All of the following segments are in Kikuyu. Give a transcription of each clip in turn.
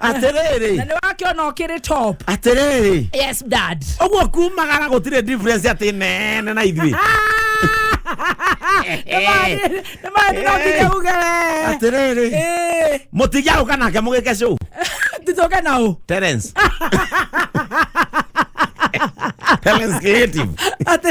atĩrĩrĩ na nä wakĩona å kä rä top atĩrĩrĩ yes dad ũguo kumagara gũtirĩ difference atĩ nene na ithuĩ nä maä no nginya uge atĩrĩrĩ Ĩĩ, mũtingĩagũka nake mũgĩke show titåke na å Terence Terence creative atä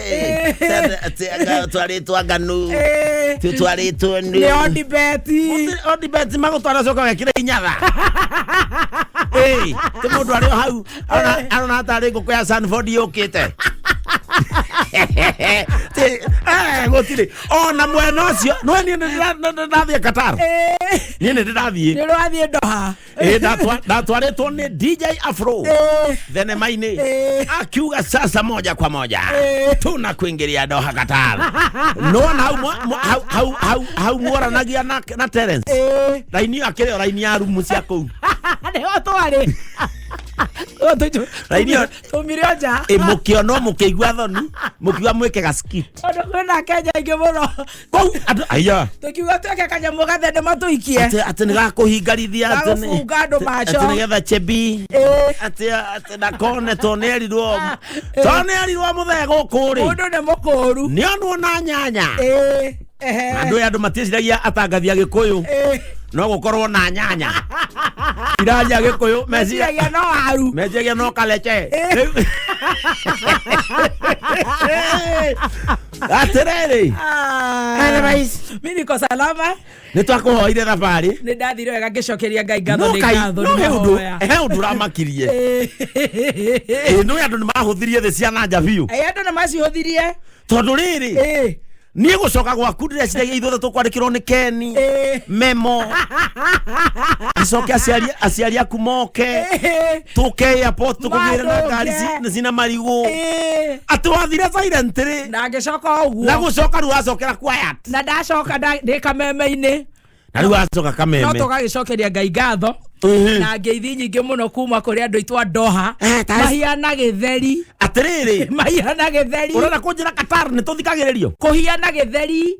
Eh, tena ati anga- twarĩtwo anganu Eh, ti twarĩtwo nĩ nĩ ondibeti ondibeti magũtwara coka wekire inyatha ti mũndũ arĩ o hau arona- arona hatarĩ ngũkũ ya sanford yũkĩte Ti- eh, gũtirĩ ona mwena ũcio nwe niĩ nĩ ndĩra- nĩ ndĩrathiĩ qatar niĩ nĩ ndĩrathiĩ nĩ rwathiĩ ndoha Eh, ndatwa- ndatwarĩtwo nĩ dj afro Eh. thenema-inĩ Eh. akiuga sasa moja kwa moja Eh. tuna kuingiria doha qatar nona hau mwa- mwa- hau- hau- hau- hau mworanagia na na terence Eh, raini akĩrĩ o raini ya rumu cia kũu nĩho twarĩ Ũguo tũju- Raini ĩyo- tumire o nja ĩ mũkĩonwo mũkĩigua thoni mũkiuga mwĩke ga skit tondũ kwĩna kenya ingĩ mũno Pau, andũ- aya tukiuga tweke kanyamå gathende matå ikie atĩ atĩ nĩ gakũhingarithia atĩ nĩ- Gagũbunga andũ atĩ- macho. atĩ nĩgetha chebi Ĩĩ. atĩ atĩ ndakone tondũ nĩ erirwo Ĩĩ. tondå nä erirwo må thee gå kå må rä ndå nä må kå ru nä onwo na nyanya andå ä andå matieciragia atangathi agä kå yå no gå korwo na nyanya iraria agä kå yå meciragia no waru meciragia no kalece Ĩĩ. Rĩu- atĩrĩrĩ Otherwise, mi niko salama nĩ twakũhoire thabarĩ nä ndathire wega ngä cokeria ngai ngatho No nä Ngai, ngatho no nĩ he ũndũ- mahoya. he ũndũ ũramakirie Ĩ, Ĩĩ, nĩ andũ nĩ mahũthirie thĩ cia nanja biũ Ĩ, andå nä macihåthirie tondå rä rä niä gå coka gwaku ndä reciragia ithuothe tå kwandä kä rwo nä keni memo acoke aciari- aciari aku moke tuke airport tukugire na Mathũke. ngari ci- na cina marigu Ĩĩ. ati wathire silent ri na ngĩcoka na ũguo gucoka riu acokera quiet na ndacoka nda- ndĩ kameme-inĩ na riu acoka no kameme tũgagĩcokeria ngai ngatho Mhm. na ngeithi nyingĩ mũno kuma kũrĩ andũ aitũ a ndoha Eh, ta- mahiana gĩtheri atiriri mahiana gĩtheri urenda kunjira qatar ni tuthikagiririo kũhiana gĩtheri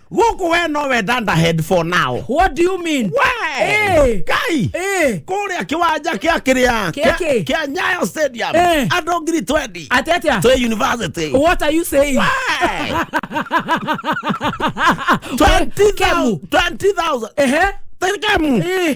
gũkũ we no we danda head for now what do you mean we Eh. kai eh kũrĩa kĩwanja kĩa kĩrĩa Kĩa kĩ? kĩa nyayo stadium Eh. andũ ngiri 20 atetia twĩ university what are you saying Wee! 20,000 20,000 ehe Tell them, eh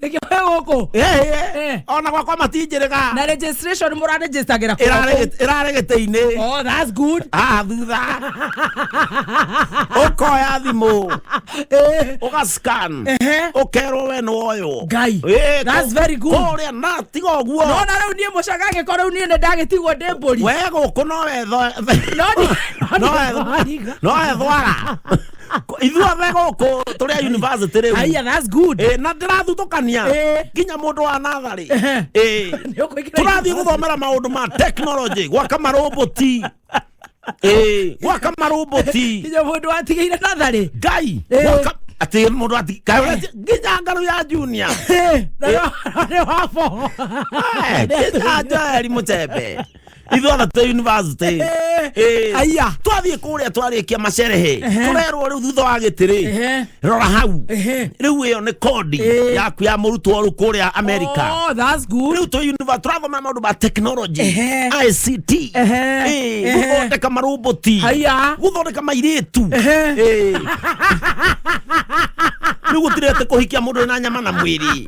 reke we gũkũ Eh. ona gwakwa matinjĩrĩga na registration mũraregistagĩra ĩrarĩ gĩtĩ-inĩ oh that's good haha thutha ũkoya thimũ eh ũgascan Ehe. ũkerwo we nĩwoywo Ngai. Eh, That's kũ- very good. kũrĩa na tiga ũguo nona rĩu niĩ mũcaga angĩkorwo rĩu niĩ nĩ ndagĩtigwo ndĩ mbũri we gũkũ no wetho No ni- no wethwara ithuothe gũkũ tũrĩ a university rĩu Aya, that's good. Eh, na ndĩrathutukania Eh. nginya mũndũ wa natharĩ Ehe. Eh. Nĩũkũingĩra tũrathiĩ gũthomera maũndũ ma technology gwaka maroboti Eh, gwaka maroboti Nginya mũndũ watigĩire natharĩ. ngai Eh. gwaka- atĩ mũndũ ati kaĩ ũreti- nginya ngarũ ya junior Eh, na no- no nĩ wa boho. Eh, nginya joeli mũcembe ithuĩ othe twĩ university Eh, Aya. twathiĩ kũrĩa twarĩkia macerehe tũrerwo rĩu thutha wa gĩtĩrĩ Ehe. rora hau Ehe. rĩu ĩyo nĩ kondi Eh. yaku ya mũrutwo rĩu kũrĩa amerika Oh, that's good. rĩu tũ univa- tũrathoma maũndũ ma technology Ehe. ict Ehe. Eh, Ehe. gũthondeka maroboti Aya. gũthondeka mairĩtu Ehe. Eh. rĩu gũtirĩ atĩ kũhikia mũndũ wĩna nyama na mwĩrĩ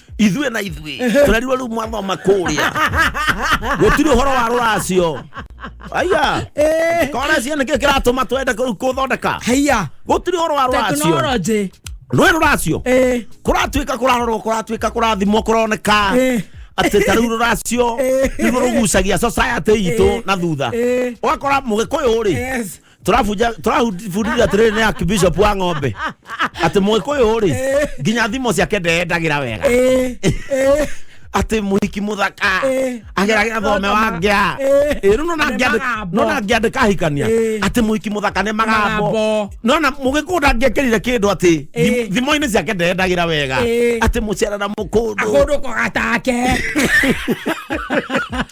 ithuĩ na ithuĩ tũrerirwo rĩu mwathoma kũrĩa gũtirĩ ũhoro wa rũracio aya Eh, koracio nĩkĩo kĩratũma twende kũu kũthondeka haiya gũtirĩ ũhoro wa rũracio tekinoronjĩ rũĩ rũracio Eh, kũratuĩka kũrarorwo kũratuĩka kũrathimwo kũroneka Eh. atĩ ta rĩu rũracio Eh. nĩguo rũgucagia society itũ Eh. na thutha Eh. ũgakora mũgĩkũyũ rĩ yes turabuja turabundithia atiriri ni akibishop wa ng'ombe ati muikuyu ri nginya thimo ciake ndeyendagira wega Eh, eh, ati muhiki muthaka Eh. ageragira thome wa ngea Eh. Eh, riu nona Nĩ ngĩandĩ- magambo. nona ngĩandĩka ahikania Eh. ati muhiki muthaka nĩ magambo Magambo. nona mũgĩkũyũ ndangĩekĩrire kĩndũ ati Eh. thimo-inĩ ciake ndeyendagira wega Eh. ati mũcerana mũkũndũ akũndũ kogata ake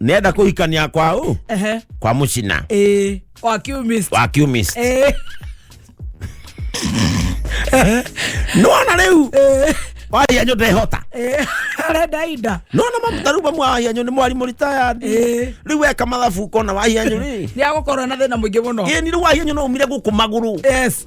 nenda kuhikania kwa u Ehe. kwa mucina Eh, wa kiumist. wa kiumist Eh, nona riu eh, waria nyu ndehota eh, arenda ida. nona mamutaru bamwe waria nyu ni mwarimu retired Eh. riu weka mathabu ukona waria nyu ri Nĩ agũkorwo na thĩna mũingĩ mũno. ĩni riu waria nyu no umire guku maguru Yes.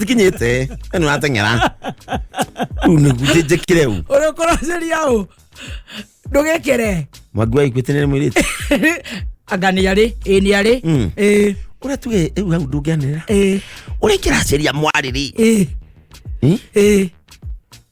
tikinyite ni wateng'era riu niguo njikire u ũrĩkũracĩria ũ ndũgĩkĩre mwangi waiguĩte nĩ mwĩrĩte anga nĩ arĩ ĩ nĩ arĩ Mm. ĩ ũrĩa tuge rĩu hau ndũngĩanĩra ĩ ũrĩa kĩracaria mwarĩrĩ ĩ ĩ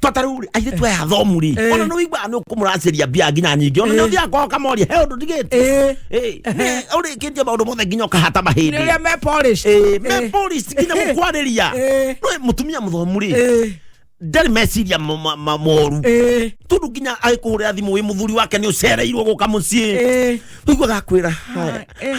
twataru ri aire twe athomu ri Eh. ona no igba no kumuraceria bia nginya nyingi ona Eh. no thia ko kamori he undu ndigite Eh. eh ne uri kinje maundu mothe nginya ukahata mahindi nä rä a me polish. eh me Eh. police nginya Eh. gukwariria Eh. no mutumia muthomu ri Eh, ndari meciria mo- ma- ma- moru eh, tundu nginya agikuhurira thimu wi muthuri wake ni ucereirwo guka mucii eh. wiguaga kwira Eh.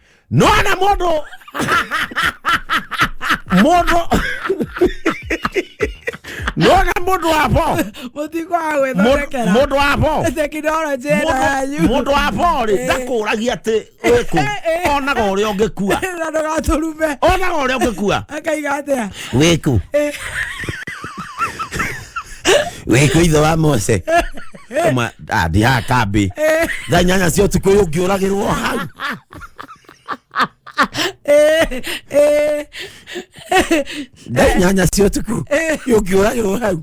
nona modo modo nona modo wapo mutingo wa gwithondekera modo wapo tekinoronjĩ ĩno yanyu modo wapo rĩ Eh. ndakũragia atĩ wĩkũ Eh, eh. onaga ũrĩa ũngĩkua na ndũgatũrume onaga ũrĩa ũngĩkua akaiga atĩa wĩkũ Eh. wĩkũ ithe wa mose Kama- ah, ndi haha kambĩ thaa inyanya cia ũtukũ ũyũ ngĩũragĩrwo hau thaa inyanya cia ũtukũ ũyũ ngĩũragĩrwo hau Na-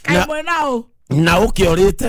kaĩ mwena ũ na ũkĩorĩte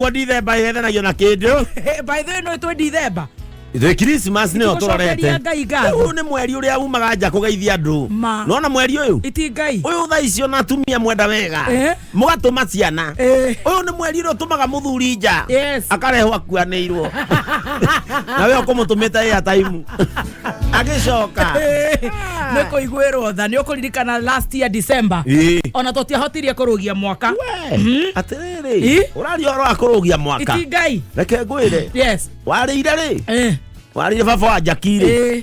kwa ndithemba yethanagio na kĩndũ by the way no itwe ndithemba the christmas nĩyo Nĩtũgũcokeria tũrorete Ngai ngatho. Rĩu nĩ mweri ũrĩa umaga nja kũgeithia andũ Ma. nona mweri ũyũ iti ngai ũyũ thaa icio na atumia mwenda wega Eh? mũgatũma ciana Eh. ũyũ nĩ mweri ũrĩa ũtũmaga mũthuri nja Yes. akarehwo akuanĩirwo na we ũkũmũtũmĩte ĩya taimu agĩcoka nä kå iguä rwo tha nä å kå ririkana last year december Ĩĩ. ona tå tiahotirie kå rå gia mwaka We, atĩrĩrĩ Ĩ? ũraria ũhoro wa kũrũgia mwaka iti ngai reke ngwĩre yes warĩire rĩ Eh, warĩire baba wa njakirĩ eh.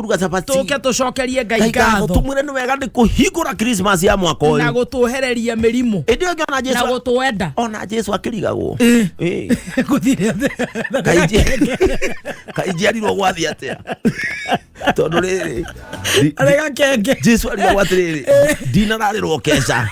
kũruga cabaci tũke tũcokerie ngai ngai ngatho ngatho tumwĩre nĩ wega nĩ kũhingũra krismas ya mwaka na ũyũ gũtũhereria mĩrimũ ĩndĩ ũngĩ ona na jesu gũtwenda ona jesu akĩrigagwo Ĩ. Ĩ. gũthire Kaingĩ- kaingĩ arirwo gwathi atĩa tondå rä rä arä gakenge jesu arirwo atirä rä ndinararä keca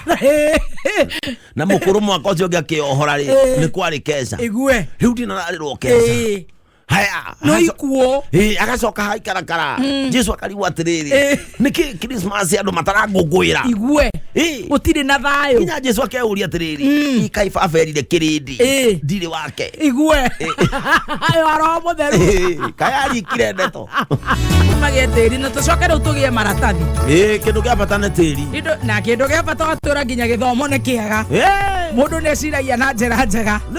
na må kå rå mwaka å cio å ngä akä ohora rä nä kwarä keca igue rä u ndinararä keca Ĩ. haya no haco- ikuo Eh, agacoka haikarakara jesu akarigu atiriri Eh. niki krismas andu matarangungwira igue Eh. gutire na thayo nginya jesu akeuria atiriri ikai baba erire kirindi Eh. ndirĩ wake igue ayo aro mutheru Eh, kaya arikire ndeto magie tiri na tucoke riu tugie maratathi Eh, kĩndũ kĩa bata nĩ tĩri Indo- na kindu gia bata watura nginya githomo ni kiega Eh. mundu ni eciragia na njira njega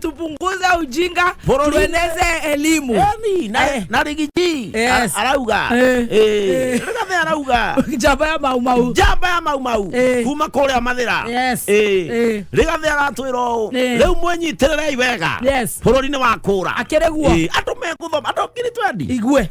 tupunguze ujinga Borori. tueneze elimu Emi, na- Eh. na rigiji Yes. Ara- arauga Eh. Eh, Eh. rigathe arauga njamba ya maumau njamba ya maumau Eh. kuma kũrĩa mathĩra Yes. Eh. Eh. rigathe aratwĩra ũũ Eh. rĩu mwĩnyitĩrĩrei wega Yes. bũrũri-inĩ wa kũra Akĩrĩ guo. Eh, andũ mekũthoma andũ ngiri twendi igue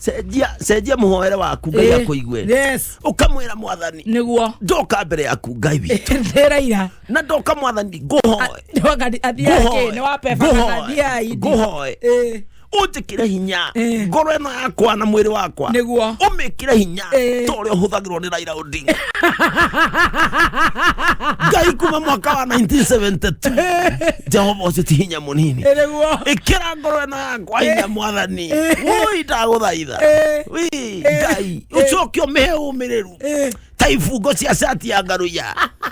cenjia cenjia muhoere waku ngai Eh, akuigue yes ukamwira mwathani niguo ndoka mbere yaku ngai witũ ndĩraira na ndoka mwathani ngũhoe athiake nĩ wapebathiai ngũhoe Eh, ũnjĩkĩre hinya Eh. ngoro ĩno yakwa na mwĩrĩ wakwa nĩguo ũmĩkĩre hinya Eh. ta ũrĩa ũhũthagĩrwo nĩ raira Odinga. Ngai kuma mwaka wa 1972 Jehova ũcĩti hinya mũnini Ĩrĩ guo. ĩkĩra ngoro ĩno yakwa hinya mwathani woi ndagũthaitha Eh. Wĩ, Ngai ũcoke ũmĩhe ũmĩrĩru Eh. ta ibungo cia cati ya ngaruya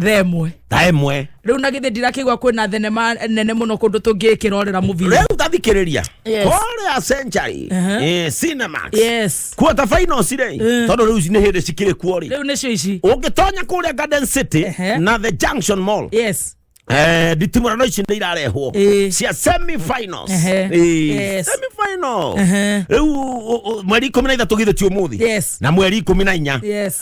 themwe tha ĩmwe rä u na gä thä ndirakä igua kwä na thenema nene må no kå ndå tå ngä kä rorä ra må bira rĩu tathikĩrĩria Yes. korea century Aha. eh, cinemax yes kuota final cirĩ Eh. tondũ rĩu ici nĩ hĩndĩ cikĩrĩ kuo rĩ rä u nä cio ici ũngĩtonya kũrĩa garden city Ehe. na the junction mall yes Eh, nditimũrano ici nĩ irarehwo Eh. cia semi finals Ehe. Eh, Yes. semi final Ehe. rĩu ũ- ũ- mweri ikũmi na ithatũ githĩ ti ũmũthĩ Yes. na mweri ikũmi na inya yes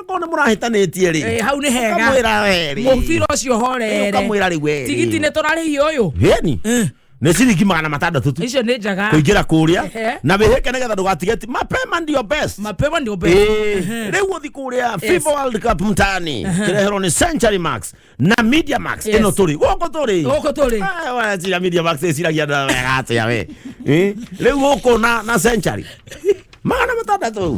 akorwo nĩ mũrahĩtanĩtie rĩ Eh, hau nĩ hega ũkamwĩra we rĩ mũbira ũcio horere ũkamwĩra rĩ we tigiti nĩ tũrarĩhio ũyũ geni Eh, nĩ ciringi magana matandatũ tu icio nĩ njega kũingĩra kũrĩa Ehe. na wĩhĩke nĩgetha ndũgatige ti mapema ndio best mapema nĩ ũmbe Ĩĩ, rĩu ũthi kũrĩa fifa world cup mtaani kĩreherwo nĩ century max na media max Yes. ĩno tũrĩ gũkũ tũrĩ Gũkũ tũrĩ. Ah, wa, cira media max ĩciragia andũ aya wega atĩa we Eh, rĩu gũkũ na na century magana matandatũ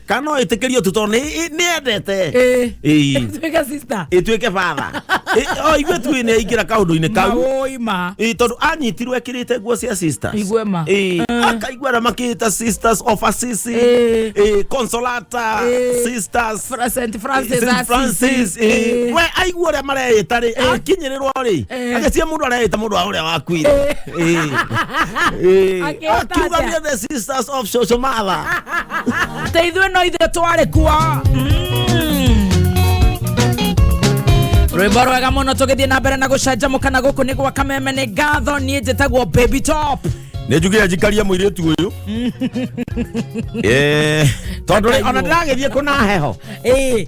kana no ĩtĩkĩrio tu tondũ nĩ- nĩ endete Ĩĩ. Ĩĩ. Tuĩke sister. ĩtuĩke batha oigue tu nĩ aingĩra kaũndũ-inĩ kau Maũi ma. Ĩĩ, tondũ anyitirwo ekĩrĩte nguo cia sisters Aigue ma. Ĩĩ, akaigua arĩa makĩĩta sisters of assisi Ĩĩ. Ĩĩ, consolata Ĩĩ. sisters Fra- Saint Francis Saint Francis, Assisi. ĩĩ. Ĩĩ. we aigua ũrĩa mareĩta rĩ akinyĩrĩrwo rĩ Eh. agacia mundu araita mundu wa uria wakuire Eh. Eh. Akĩhota akiuga atĩa? nĩ the sisters of social mother te ithuĩ no ithuĩ twarĩ kuo rwĩmbo rwega mũno tũgĩthiĩ na mbere na gũcanjamũka na gũkũ nĩ gwa kameme nĩ ngatho niĩ njĩtagwo baby top nä njugä ra njikarie må irä tu å yå tondå Aka- ona ndäragä thiä kå na heho Ĩĩ,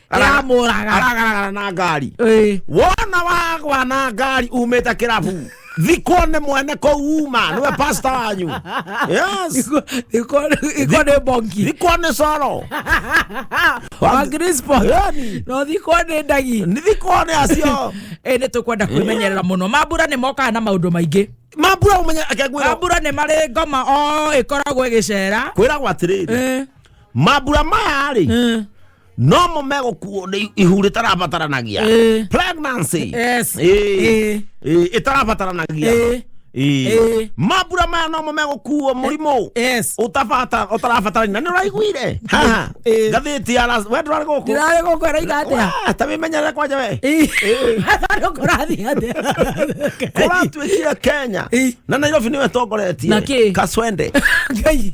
yamũraga aragaragara na ngari Ĩĩ. wona wagwa na ngari umĩte kĩrabu thikũ nĩ mwene kũu uma nĩwe pasta wanyu yes Iko- iko- iko nĩ bongi thikũ nĩ coro wa Crispo. Yani. no thikwo nĩ ndagi nĩ thikũ nĩ acio ĩ nĩ tũkwenda kwĩmenyerera mũno mambura nĩ mokaga na maũndũ maingĩ mambura ũmenye akegwĩra mambura nĩ marĩ ngoma o ĩkoragwo ĩgĩcera kwĩragwo atĩrĩrĩ Eh, mambura maya rĩ eh. no mo megũkuo nĩ ihu rĩtarabataranagia Eh. pregnancy Yes. Eh. Eh. Eh, ĩtarabataranagia Eh. Eh. Eh. mambura maya no mo megũkuo mũrimũ Yes. Ũtabata- ũtarabatarania na nĩ ũraiguire Haha. Eh. ngathĩti ya Las- we ndũrarĩ gũkũ Ndĩrarĩ gũkũ ĩraitha atĩa? Wee, ta wĩmenyerere kwanja we Eh. Andũ kũrathiĩ atĩa? kũratuĩkire kenya Eh. na nairobi nĩwe tongoretie Na kĩ? kaswende Ngai.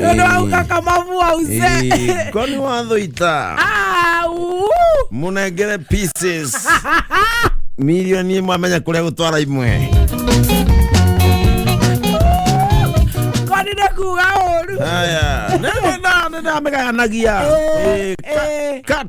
Tondũ hau kakamavua uze. Eh, kwani wathoita Ah, uu. munengere pieces milioni imwe amenya kuria gutwara imwe Kwani nĩ kuuga ũru. haya nĩndamegayanagia Eh, Eh, ka- eh. cut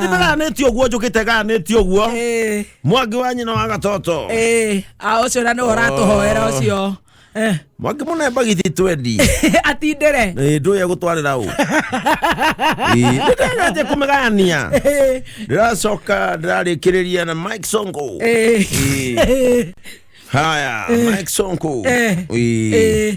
nĩtĩranĩtie ũguo njũkĩte ganĩtie ũguo Eh, mwangi wa nyina wa gatoto eh, a ũcio na nĩ ũratũhoera ũcio Eh, mwangi mũnemba githi twendi atindĩre ndũya gũtwarĩra ũ nĩndaganje kũmĩgayania Eh, ndĩracoka ndĩrarĩkĩrĩria na mike songo eh, Eh. haya mike songo Eh. Eh. eh.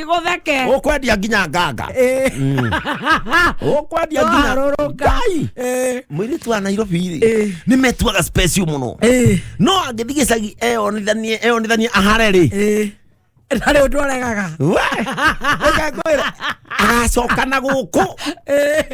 gũtheke ũkwendia nginya nganga Eh. Mm. ũkwendia nginya Waharũrũka. Ngai. Eh. mũirĩtu wa nairobi Eh. nĩ metuaga special mũno Eh. no angĩthiĩ gĩcagi eyonithanie eyonithanie ahare rĩ Eh. ndarĩ ũndũ aregaga We, reke ngwĩre, agacoka na gũkũ Eh.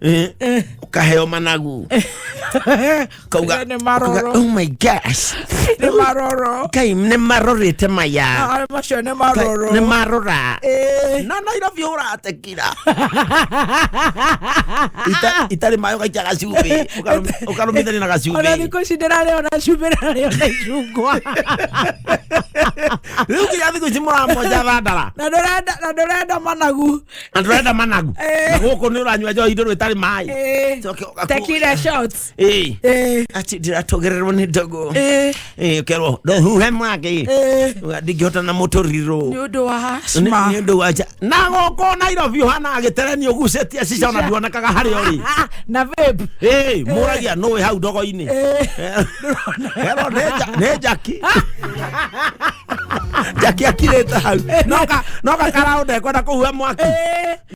Eh, ukaheo managu kauga Nĩ maroro. kauga, oh my gosh nĩ maroro kai nĩ marorĩte maya Ah, macio nĩ maroro nĩ marora Eh, na nairobi ũratekira Ita- itarĩ maĩ ũgaikia gacumbĩ ũkarum- ũkarũmithania na ona gacumbĩ thikũ ici ndĩrarĩa ona cumbĩ ndĩrarĩa ona icungwa rĩu nginya thikũ ici mũramonja thandara na ndũrenda na ndũrenda managu na ndurenda managu Eh. na guku ni uranyua njohi nduru itari mai Eh, Coke ũgakuo. tequila shots. Eh, Eh, ati ndiratogererwo nĩ ndogo eh, Eh, kerwo ndohuhe mwaki eh. ndingĩhota na mũtũrirũ Nĩ ũndũ wa Nĩ- asthma. nĩ ũndũ wa nja na gũkũ nairobi ũhana agĩtereni ũgucĩtie cica ona nduonekaga harĩ ũrĩ Ah, na vape. Hey, mũragia nũ wĩ hau ndogo-inĩ Eh. Hero nĩ nja- nĩ njaki njaki akirĩte hau Noka- noka karaũ ndekwenda kũhua mwaki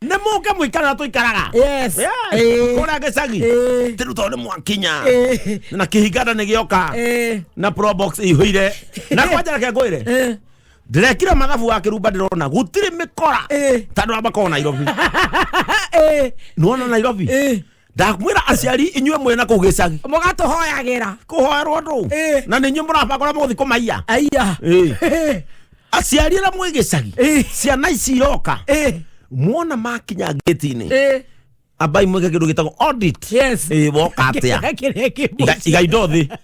nĩ mũke mũikara ũrĩa tũikaraga Yes. Eh. kũrĩa gĩcagi Eh. tĩru tondũ nĩ mwakinya Eh. na kĩhinganda nĩ gĩoka Eh. na probox ihũire na kwanja reke ngwĩre Eh. ndĩrekire mathabu wa kĩrumba ndĩrona gũtirĩ mĩkora Eh. tandũ wa makoo nairobi Eh. nĩwona nairobi Eh. ndakwĩra aciari inyuĩ mwĩ na kũu gĩcagi mũgatũhoyagĩra kũhoerwo ndũ Eh. na nĩ inyuĩ mũrabanga ũrĩa mũgũthi kũmaiya aiya Eh. aciari arĩa mwĩ gĩcagi Eh. ciana ici iroka Eh, muona makinya ngĩti-inĩ eh, ambai mwĩke kĩndũ gĩtagwo audit yes. Eh, woka atĩa kĩrĩa kĩmũ Iga- iga indo thĩ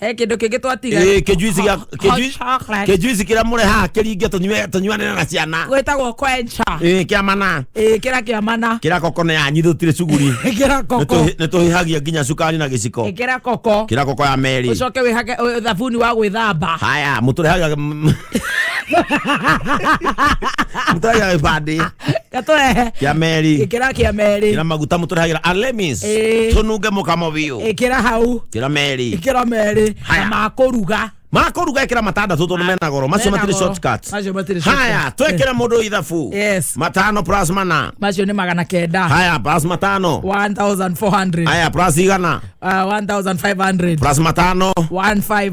he kindu kingi twatiga Ĩĩ, kĩjuici gĩa- Hot kĩjuici- chocolate. kĩjuici kĩrĩa mũrehaga kĩringe tũnyue- tũnyuanĩre na ciana gwĩtagwo kwencha Ĩĩ, kĩa mana ĩĩ kĩra kĩa mana kĩra koko nĩ yanyi tũtirĩ cuguri ĩkĩra koko Nĩtũhi- nĩtũhihagia nginya cukari na gĩciko ĩkĩra koko kĩra koko ya meri ũcoke wĩhage ũ- thabuni wa gwĩthamba haya mũtũrehagia mũtũrehagia gĩbandĩ gatũrehe kĩa meri ĩkĩra kĩa merĩ kĩra maguta mũtũrehagĩra alemis Ĩĩ. tũnunge mũkamo biũ ĩkĩra hau kĩra meri ĩkĩra merĩ na Haya. makũruga makũruga ĩkĩra matandatũ tondũ mena goro macio Mena matirĩ goro. shortcuts Macio matirĩ haya shortcuts. twekĩre mũndũ ithabu Yes. matano plus mana macio nĩ magana kenda haya plus matano 1400 haya plus igana uh, 1500 plus matano 15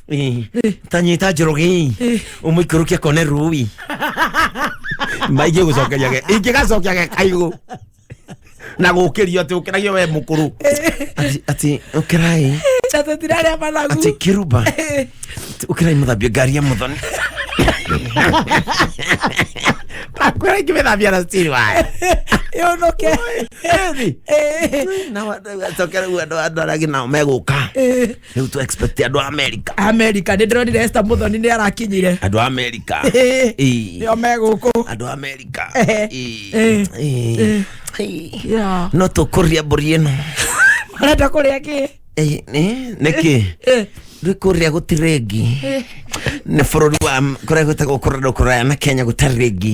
Eh, tanyita njorogi umuikũrũkia kone rubi maingĩ gũcokeria ge ingĩ gacokia ge kaigũ na gũkĩrio atĩ ũkĩragio we mũkũrũ Ati- ati ũkĩrai Chatũtira arĩa managu. ati kiruba Ati, ũkĩrai mũthambia ngari ya mũthoni takwĩra ingĩ mĩthambia na stiri wayo Yũnũke. na wa- cokera rĩu andũ andũ arĩa angĩ nao megũka Eh. Rĩu tũ expect andũ a America. america nä ndä ronire esta må thoni nä arakinyire Andũ a America. Ĩĩ. Ĩĩ. nä o megå kå Andũ a America. Eh. Ĩĩ. Eh. Ĩĩ. Ĩĩ. No tũkũria mbũri ĩno. arenda kå rä a kä Ĩĩ, nĩ- Nĩkĩ? Rĩu kũrĩa gũtirĩ ngi. Nĩ bũrũri wa kũrĩa gwĩtagwo kũrĩa kũraya na Kenya gũtarĩ ngi.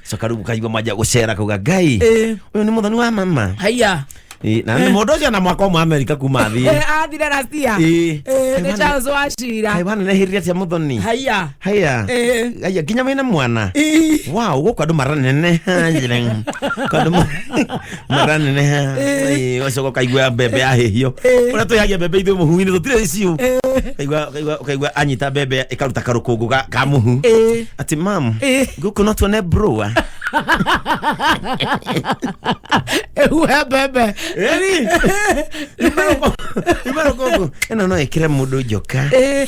so karibu kaigua maja gucera kuga ngai Eh. uyu ni muthoni wa mama haiya Eh, na nĩ mũndũ ũcio na mwaka ũmwe amerika kuma thiĩ Eh, athire na cia Eh. Eh, nĩ charles wacira Kaĩ bana nehĩrire atia mũthoni haiya haya Eh. haya nginya wĩna mwana Ih. wow gũkũ andũ maranene Haya. Kwa andũ ma- maraneneha wacoka ukaigua mbembe yahĩhio ũrĩa twĩhagia mbembe ithuĩ mũhu-inĩ tũtirĩ ciũ Ũkaigua- ũkaigua- ũkaigua anyita mbembe ĩkaruta karũkũngũ ga- ka mũhu Eh. ati mam Eh. gũkũ no tuone broa ehuhe mbembe imarũkũngũ ĩno no ĩkĩre mũndũ njoka Eh.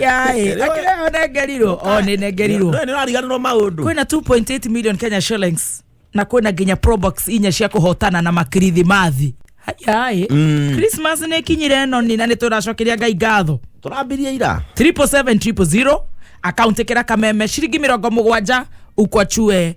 yaĩ akĩrĩa onengerirwo o nĩ nengerirwo Nĩ- nĩ ũrariganĩrwo maũndũ kwĩna 2.8 million kenya shillings na kwĩna nginya probox inya cia kũhotana na makirithimathi yaĩ Mm. christmas nä ĩkinyire ĩno nina nä tå racokeria ngai ngatho tũrambirie ira 700 akauntä kä ra kameme ciringi mä rongo må gwanja ukwachue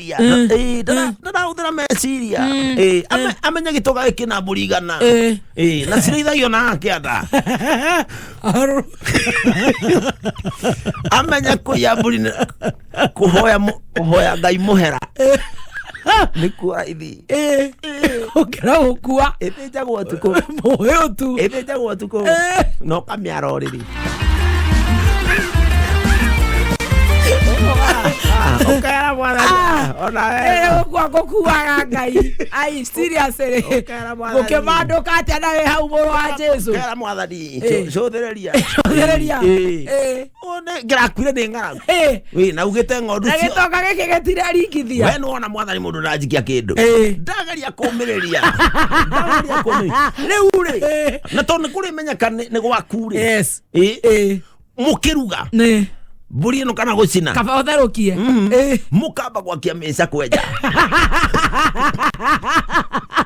meciria Mm. Eh, ndara- ndarahũthĩra meciria Mm. Eh, ame- amenya gĩtoga gĩkĩ na mbũri igana Eh. Eh, na cirĩithagio na kĩanda Aru- amenya kũiya mbũri nĩ- kũhoya mũ- kũhoya ngai mũhera nĩkuo raithi ĩĩ ũkĩra gũkua ĩthĩ njagwo ũtukũ mũĩ ũtu ĩthĩ njagwo ũtukũ Ĩĩ. na ũkamĩara ũrĩrĩ ũkera mwana ona Ĩĩ, wega gũkua gũkuaga ngai ai seriously Ũkera mwana gũkĩmandũka atĩa na wĩ hau mũrũ wa jesu ũkera mwathani Ĩĩ. cũthĩrĩria Cũthĩrĩria. Ĩĩ. Ĩĩ. ngĩrakuire ndĩ ng'aragu Ĩ, Wĩ, na ugĩte ng'ondu na cio gĩtonga gĩkĩ gĩtiraringithia we nĩwona mwathani mũndũ ndanjikia kĩndũ Ĩ. ndageria kũmĩrĩria ndageria kũmĩrĩria rĩu rĩ Ĩ. na tondũ nĩ kũrĩmenyeka nĩ nĩ gwaku rĩ yes Ĩ, Ĩ, mũkĩruga nĩ mbũri ĩno kana gũcina kaba ũtherũkie Ĩ. mũkamba gwakia mĩca kwenja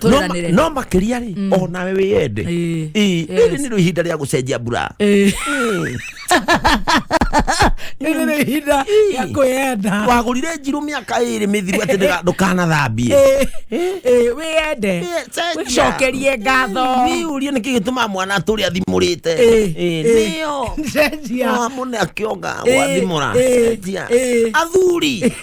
Tũrĩranĩre. no makĩria rĩ Mm. o nawe wĩyende Ĩĩ. Ĩĩ, Yes. rĩrĩ nĩrĩo ihinda rĩa gũcenjia mbura Ĩĩ. Ĩĩ. Rĩrĩ nĩ ihinda rĩa kwĩyenda wagũrire njirũ mĩaka ĩrĩ mĩthiru atĩ ndĩga- ndũkanathambie Ĩĩ. Ĩĩ, wĩyende Ĩĩ, cenjia. wĩcokerie ngatho niurie nä kä gä tå ma mwana atå rä a thimå te Ĩĩ, ĩĩ. nä o cenjia mwana akĩonga Ĩĩ, wathimå ra ĩĩ, ĩĩ. athuri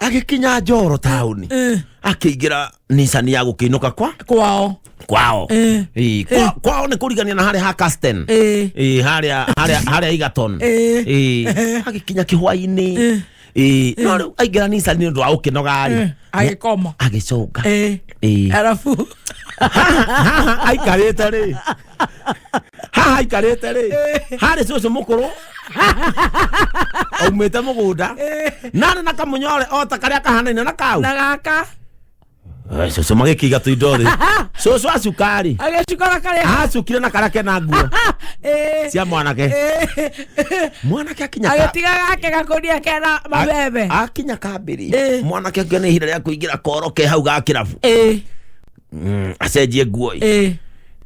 agĩkinya njoro taũni Eh, akĩingĩra nicani ya gũkĩinũka kwa kwao kwao Eh. Ĩ, kwa- kwao nĩ kũrigania na harĩa ha Casten Eh. Ĩ, harĩa harĩa- harĩa igaton Eh. Ĩ, agĩkinya kĩhwainĩ Ĩ, no rĩu aingĩra nicani nĩ ũndũ wa gũkĩnogarĩ agĩkoma agĩcũnga Eh, Ĩ. arabu haha aikarĩte rĩ haha aikarĩte rĩ harĩ cũcũ mũkũrũ aumĩte mũgũnda narĩ na kamũnyore o ta karĩa kahanaine na kau na gaka Eh, cũcũ magĩkĩiga tũindo thĩ cũcũ acukari agĩcukora karĩa acukire na karĩa kena nguo Eh, cia mwanake eh, mwanake akinya ka- agĩtiga gake gakũria kena mabebe akinya kambĩrĩ Eh. mwanake akĩona ihinda rĩa kũingĩra koro ke hau ga kĩrabu Eh, Mm, acenjie nguo eh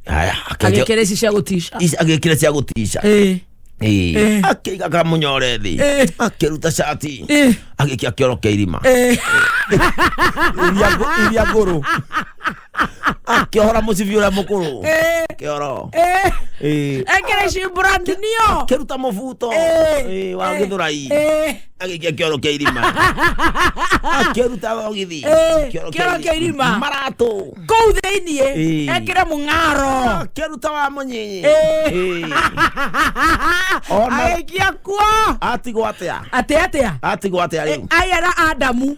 haya akenja- agekere ici cia gutisha ici agĩkĩra cia gũtiica eh Eh. akĩiga akamunyore thĩ Eh. akĩruta cati eh agĩkia kĩoro kĩa irima eh iria ngũ- iria ngũrũ akĩhora mũcibi ũrĩa mũkũrũ eh kĩoro eh Eh, ekere ici brand nio akĩruta mũbuto Eh. eh, wa gĩthũrai eh agĩikia kĩoro kĩa irima akĩruta thogithi Eh, kĩoro kĩa irima. maratũ kũu thĩinĩ Eh. ekĩre mũng'aro akĩruta wa mũnyinyi Eh. Eh. Ona- agĩikia kuo atigwo atĩa atĩ atĩa atigwo atĩa rĩu ayera adamu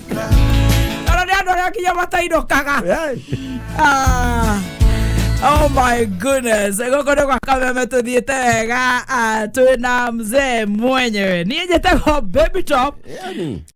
kana nä andå arä a kinya matainåkaga Ah. Oh my goodness gũkũ nĩ gwa kameme tũthiĩte wega ah, twĩna mzee mwenyewe niĩ njĩtagwo baby top